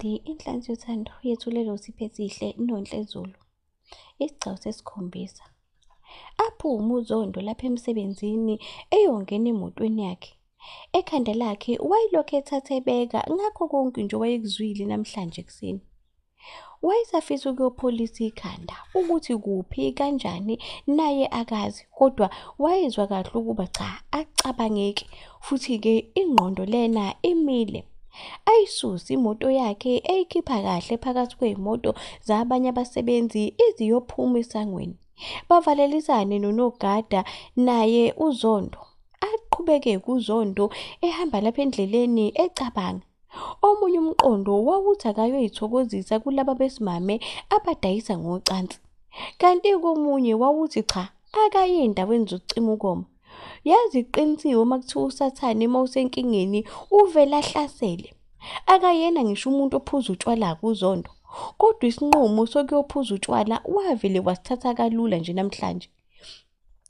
Di inhlansi yothando yethulele usiphe sihle nonhle Zulu. Isigcawu sesikhombisa. Aphume uZondo lapha emsebenzini eyongena emotweni yakhe. Ekhanda lakhe wayelokhu ethatha ebeka ngakho konke nje wayekuzwile namhlanje ekuseni. Wayesafisa ukuyopholisa ikhanda ukuthi kuphi kanjani naye akazi kodwa wayezwa kahle ukuba cha acabangeki futhi-ke ingqondo lena imile. ayisusa imoto yakhe eyikhipha kahle phakathi kweyimoto zabanye abasebenzi iziyophuma esangweni bavalelisane nonogada naye uzondo aqhubeke kuzondo ehamba lapha endleleni ecabanga omunye umqondo wawuthi akayoyithokozisa kulaba besimame abadayisa ngocansi kanti komunye wawuthi cha akaye endaweni zokucima ukoma Yazi iqinisiwe uma kuthiwa usathane uma usenkingeni uvele ahlasele. Akayena ngisho umuntu ophuza utshwala kuzondo. Kodwa isinqumo sokuyophuza utshwala wavele wasithatha kalula nje namhlanje.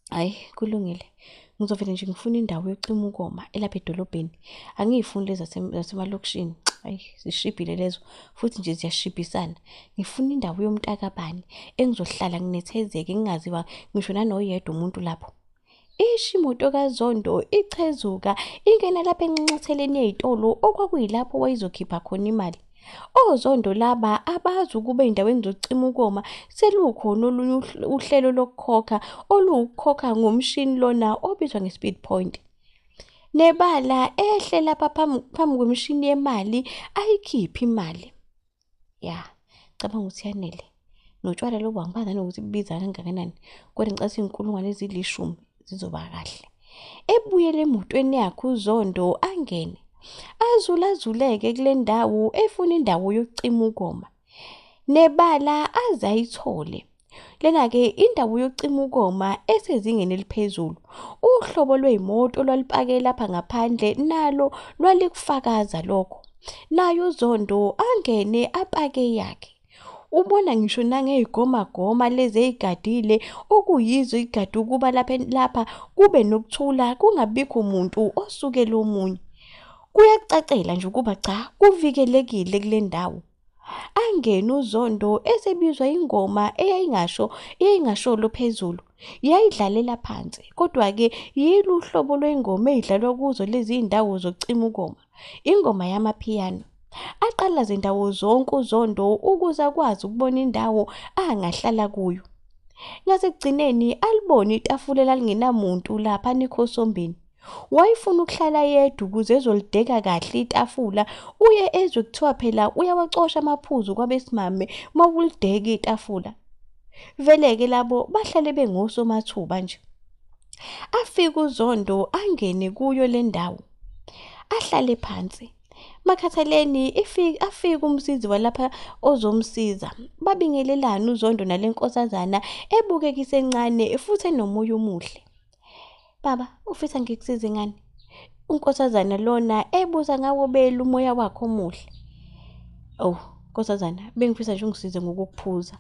Hhayi kulungile. Ngizovele nje ngifune indawo yocima ukoma elapha edolobheni. Angiyifuni lezi zasemalokishini. Ayi zishibhile lezo futhi nje ziyashibhisana. Ngifuna indawo yomntakabani engizohlala nginethezeke ngingaziwa ngisho nanoyedwa umuntu lapho. Ishi imoto kaZondo ichezuka ingena lapha enxanxatheleni yezitolo okwakuyilapho wayizokhipha khona imali. Ozondo laba abazi ukuba endaweni zocima ukoma selukhona olunye uhlelo lokukhokha oluwukukhokha ngomshini lona obizwa nge-speed point. Nebala ehle lapha phambi kwemishini yemali ayikhiphe imali. ya cabanga ukuthi yanele notshwala lobu angibazi nanokuthi bubiza kangakanani kodwa ngicabisa iy'nkulungwane ezilishumi zizoba kahle ebuyele emotweni yakhe uzondo angene azulazuleke kule ndawo efuna indawo yokucima ukoma nebala aze ayithole Lena-ke indawo yokucima ukoma esezingeni eliphezulu. Uhlobo lwey'moto olwalipake lapha ngaphandle nalo lwalikufakaza lokho. Naye uZondo angene apake eyakhe. Ubona ngisho nangey'gomagoma lezi ey'gadile okuyizo igade ukuba lapha lapha kube nokuthula kungabikho muntu osukela omunye. Kuyacacela nje ukuba cha kuvikelekile kule ndawo. angene uzondo esebizwa ingoma eyayingasho eyayingasholo phezulu yayidlalela phansi kodwa-ke yilo uhlobo lwengoma eyidlalwa kuzo lezi ndawo zokucima ukoma ingoma yamaphiyano aqala zindawo zonke uzondo ukuze akwazi ukubona indawo angahlala kuyo ngasekugcineni alibone itafula elalinginamuntu lapha nekhosombeni wayefuna ukuhlala yedwa ukuze ezolideka kahle itafula uye ezwe kuthiwa phela uyawacosha amaphuzu kwabesimame uma ulideka itafula vele-ke labo bahlale bengosomathuba nje afike uzondo angene kuyo le ndawo ahlale phansi makhathaleni afike umsizi walapha ozomsiza babingelelane uzondo nale nkosazana ebukeka isencane futhi enomoya omuhle Baba, ufisa ngikusize ngani? Unkosazana lona ebuza ngawo belu umoya wakho omuhle. Oh, nkosazana, bengifisa nje ungisize ngokukuphuza.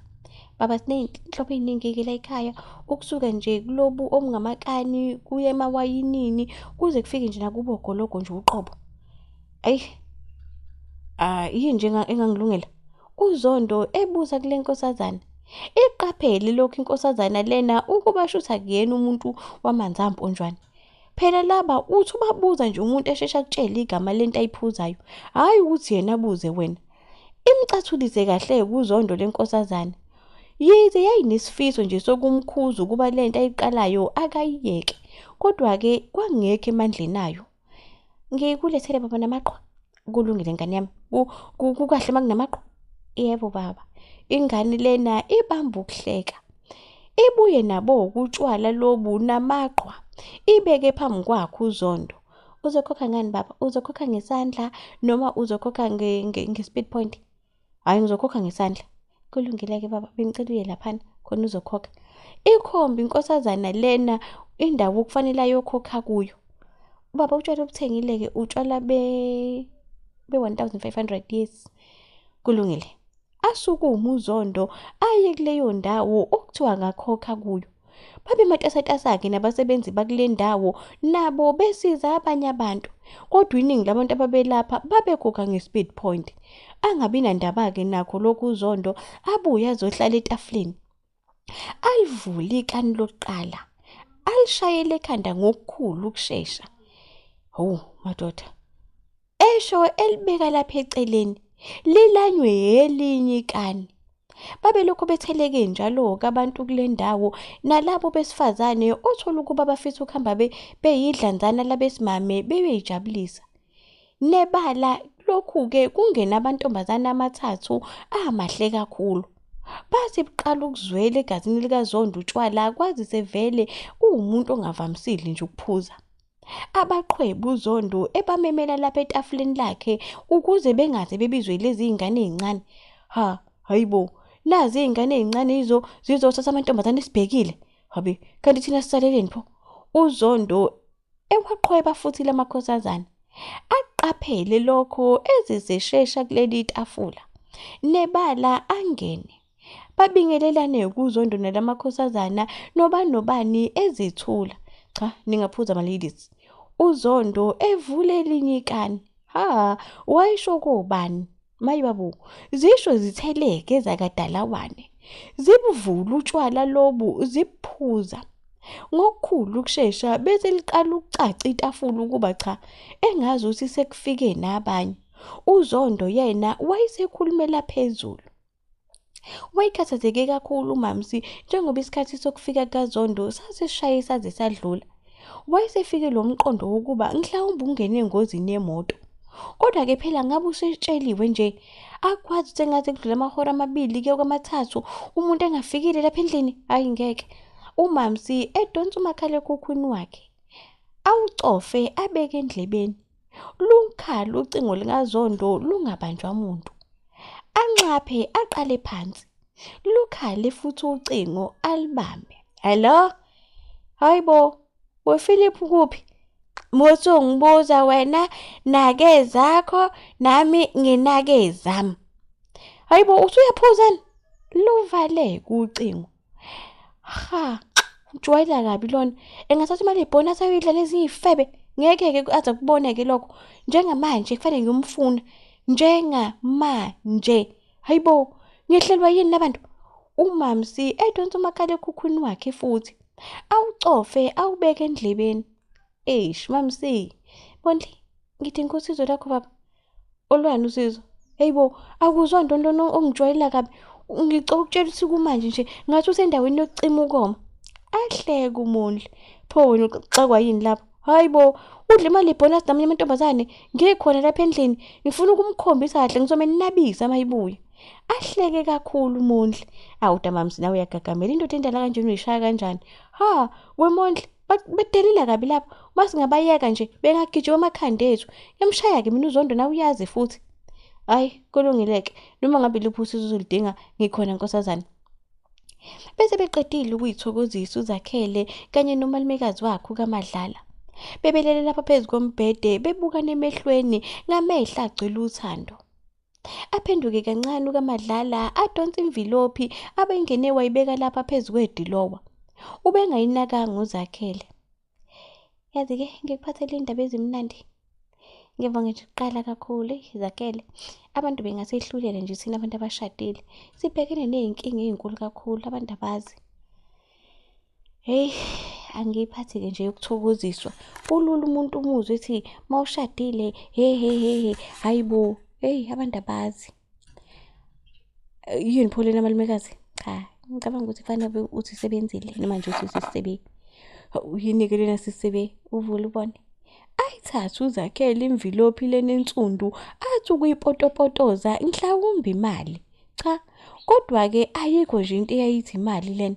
Baba siney'nhlobo ey'ningi-ke la ekhaya, ukusuka nje kulobu obungamakani, kuye emawayinini, kuze kufike nje nakubo ogologo nje uqobo. Ayi. Ah, yini nje engangilungela? UZondo ebuza kule nkosazana. Iqaphele lokhu inkosazana lena ukuba shutha kuyena umuntu wamanzi amponjwana. Phela laba uthi ubabuza nje umuntu eshesha kutshela igama lento ayiphuzayo, hhayi ukuthi yena abuze wena. Imcathulise kahle kuzondo lenkosazana. Yize yayinesifiso nje sokumkhuza ukuba lento ayiqalayo akayiyeke, kodwa-ke kwakungekho emandleni ayo. ngikulethele baba namaqwa kulungile ngane yami kukahle uma kunamaqwa yebo baba ingane lena ibamba ukuhleka ibuye nabo ukutshwala lobu namaqwa ibeke phambi kwakho uzondo uzokhokha ngani baba uzokhokha ngesandla noma uzokhokha nge-speed point hhayi ngizokhokha ngesandla kulungile-ke baba bengicela uye laphana khona uzokhokha ikhombi inkosazana lena indawo okufanele ayokhokha kuyo ubaba utshwala obuthengile-ke utshwala be-1500 be yes kulungile asukume uzondo aye kuleyo ndawo okuthiwa ngakhokha kuyo babematasatasa-ke nabasebenzi bakule ndawo nabo besiza abanye abantu kodwa iningi labantu ababelapha babeguga nge-speed point angabi nandaba-ke nakho lokhu uzondo abuye azohlala etafuleni alivule ikani lokuqala alishayele ekhanda ngokukhulu ukushesha hawu madoda Esho elibeka lapha eceleni, lilanywe yelinye ikani. Babelokhu betheleke njalo-ke abantu kule ndawo, nalabo besifazane othola ukuba bafisa ukuhamba be, beyidlanzana labesimame bebeyijabulisa. Nebala lokhu-ke kungena amantombazane amathathu amahle kakhulu. Bathi buqala ukuzwela egazini likaZondo utshwala kwazise vele kuwumuntu ongavamisile nje ukuphuza. abaqhwebu uZondo ebamemela lapha etafuleni lakhe ukuze bengaze bebizwe lezi iy'ngane ey'ncane ha hayi bo nazi iy'ngane ey'ncane izo zizothatha amantombazane esibhekile habe kanti thina sisaleleni pho uZondo ewaqhweba futhi lamakhosazana aqaphele lokho ezizeshesha kuleli tafula nebala angene babingelelane kuzondonela amakhosazana noba nobani ezithula cha ningaphuza ama-ladies uzondo evule elinye ikani ha wayisho kobani mayi babu zisho zitheleke zakadalawane zibuvula utshwala lobu zibuphuza ngokukhulu ukushesha bese liqala ukucaca itafula ukuba cha engazi ukuthi sekufike nabanye uzondo yena wayesekhulumela phezulu Wayekhathazeke kakhulu uMamsi njengoba isikhathi sokufika kaZondo sasishaye saze sadlula. Wayesefike lo mqondo wokuba mhlawumbe ungene engozini yemoto. Kodwa-ke phela ngabe usetsheliwe nje, akwazi ukuthi engaze kudlule amahora amabili kuye kwamathathu umuntu engafikile lapha endlini? Hhayi ngeke. UMamsi edonsa umakhalekhukhwini wakhe, awucofe abeke endlebeni. Lukhala ucingo likaZondo lungabanjwa muntu. Anxaphe aqale phansi. Lukhale futhi ucingo alibambe. Hello? Hayibo, wePhilip kuphi? Muthi ungibuza wena nake zakho nami nginake zami. Hayibo usuyaphuza ni? Luvale kucingo. ha ujwayela kabi lona engathatha imali yebhoni asayoyidla neziyifebe ngeke-ke aze kuboneke lokho njengamanje kufanele ngiyomfuna njengamanje hayi bo ngehlelwa yini labantu umamsi edonsa umakhalekhukhwini wakhe futhi awucofe awubeke endlebeni eish mamsi bondli ngidinga usizo lakho baba Olwani usizo? Hey bo, akuzwa nto nto ongijwayela kabi. Ngicela ukutshela ukuthi kumanje nje ngathi usendaweni yokucima ukoma. Ahleke uMondli. Pho wena uxakwa yini lapho? Hayi bo, udle imali yebhonus namanye amantombazane. Ngikhona lapha endlini. Ngifuna ukumkhombisa kahle ngizome nabisa mayibuye. Ahleke kakhulu uMondli. Awu damamsi nawe uyagagamela indoda endala kanjena uyishaya kanjani? Ha, weMondli bedelile kabi lapho uma singabayeka nje bengagijima amakhanda ethu emshaya-ke mina uzondo nawe uyazi futhi hhayi kulungile-ke noma ngabe luphi usizo uzoludinga ngikhona nkosazane bese beqedile ukuyithokozisa uzakhele kanye nomalumekazi wakhe ukamadlala bebelele lapha phezu kombhede bebukana emehlweni ngamehla agcwele uthando Aphenduke kancane ukaMadlala adonsa imvilophi abengene wayibeka lapha phezu kwedilowa. Ubengayinakanga uZakhele. Yazi-ke ngikuphathele iy'ndaba ezimnandi. Ngiyeva ngisho ukuqala kakhulu, eyi Zakhele. Abantu bengasehlulela nje thina abantu abashadile. Sibhekene ney'nkinga ey'nkulu kakhulu, abantu abazi. Hey, angiyiphathi ke nje yokuthokoziswa. Ulula umuntu umuzwe ethi mawushadile he he he he hayibo hey abantu abazi. Yini pho lena malumekazi? Cha, ngicabanga ukuthi kufanele uthi sebenzile noma nje uthi sisebe. Yini ke lena sisebe uvule ubone. Ayithathe uzakhele imvilophi lena ensundu athi ukuyipotopotoza mhlawumbe imali. Cha, kodwa ke ayikho nje into eyayithi imali lena.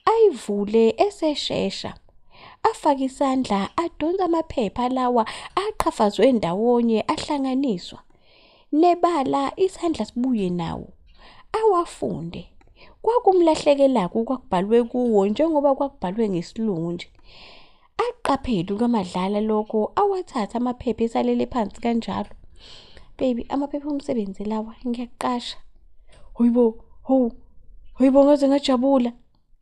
ayivule eseshesha afake isandla adonsa amaphepha lawa aqhafazwe ndawonye ahlanganiswa nebala isandla sibuye nawo awafunde kwakumlahlekelaku kwakubhalwe kuwo njengoba kwakubhalwe ngesilungu nje Aqaphele uNomadlala lokho awathatha amaphepha esalele phansi kanjalo. Baby, amaphepha omsebenzi lawa ngiyaqasha. Hoyibo, ho, hoyibo ngaze ngajabula.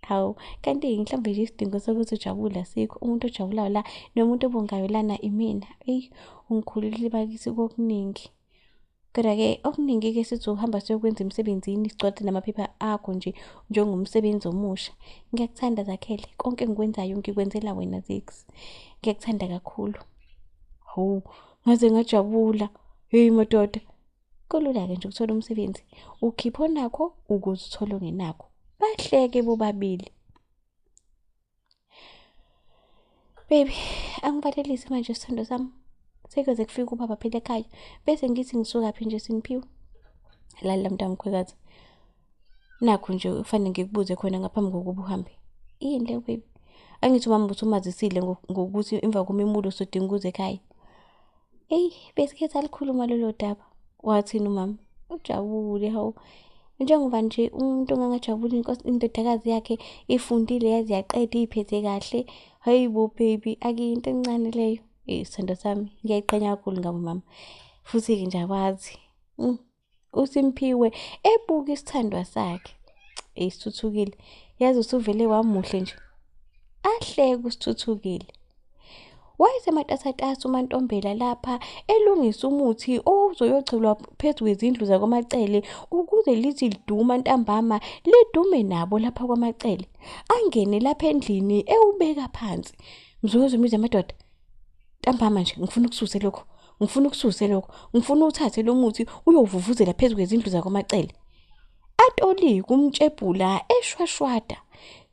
Hawu, kanti mhlawumbe nje isidingo sokuthi ujabule asikho. Umuntu ojabulayo la nomuntu obongayo lana imina. Eyi, ungikhululile bakithi kokuningi. Kodwa-ke okuningi-ke sithi ukuhamba siyokwenza emsebenzini sigcwade namaphepha akho nje njengomsebenzi omusha. Ngiyakuthanda Zakhele, konke engikwenzayo ngikwenzela wena Zix. Ngiyakuthanda kakhulu. Hawu, ngaze ngajabula. Heyi madoda. Kulula-ke nje ukuthola umsebenzi. Ukhipha onakho ukuze uthole ongenakho. Bahleke bobabili. Baby, angivalelisi manje isithando sami. Sekuyoze kufike ubaba phela ekhaya. Bese ngithi ngisuka phi nje simphiwe. Lalela mntamkhwekazi. Nakho nje kufanele ngikubuze khona ngaphambi kokuba uhambe. Yini le baby? Angithi umama uthi umazisile ngokuthi emva komemulo sodinga ukuze ekhaya. eyi besikhetha likhuluma lolo daba wathini umama ujabule hawu njengoba nje umuntu ongangajabuli indodakazi yakhe ifundile yaze yaqeda iyiphethe kahle hayi bo baby akuyinto encane leyo isithando sami ngiyayiqhenya kakhulu ngabo mama futhi-ke nje akwazi mm, uSimphiwe ebuka isithandwa sakhe esithuthukile yazi usuvele wamuhle nje ahleke usithuthukile wayesematasatasa umantombela lapha elungisa umuthi owawuzoyogcelwa phezu kwezindlu zakwamacele ukuze lithi liduma ntambama lidume nabo lapha kwamacele angene lapha endlini ewubeka phansi mzuzu mize amadoda Ntambama nje ngifuna ukususe lokho. Ngifuna ukususe lokho. Ngifuna uthathe lo muthi uyovuvuzela phezu kwezindlu zakwamacele. Atoli kumtshebhula eshwashwada.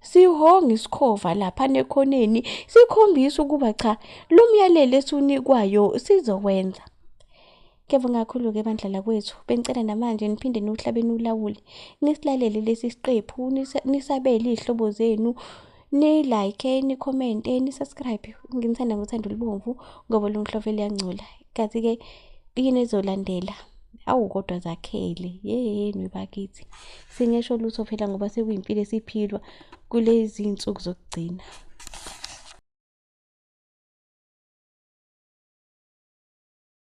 Sihonga isikhova lapha nekhoneni sikhombisa ukuba cha lo myalelo esiwunikwayo sizowenza. Kuyabonga kakhulu-ke bandla lakwethu. Bengicela namanje niphinde niwuhlabe niwulawule. Nisilalele lesi siqephu, nisa- nisabele iy'hlobo zenu, ni-like, nikhomente, ni-subscribe. Nginithanda ngothando olubomvu ngoba lungihlove luyangcola. Kazi-ke yini ezolandela? Awu kodwa zakhele. Yeyeni bakithi. Singesho lutho phela ngoba sekuyimpilo esiphilwa kulezi nsuku zokugcina.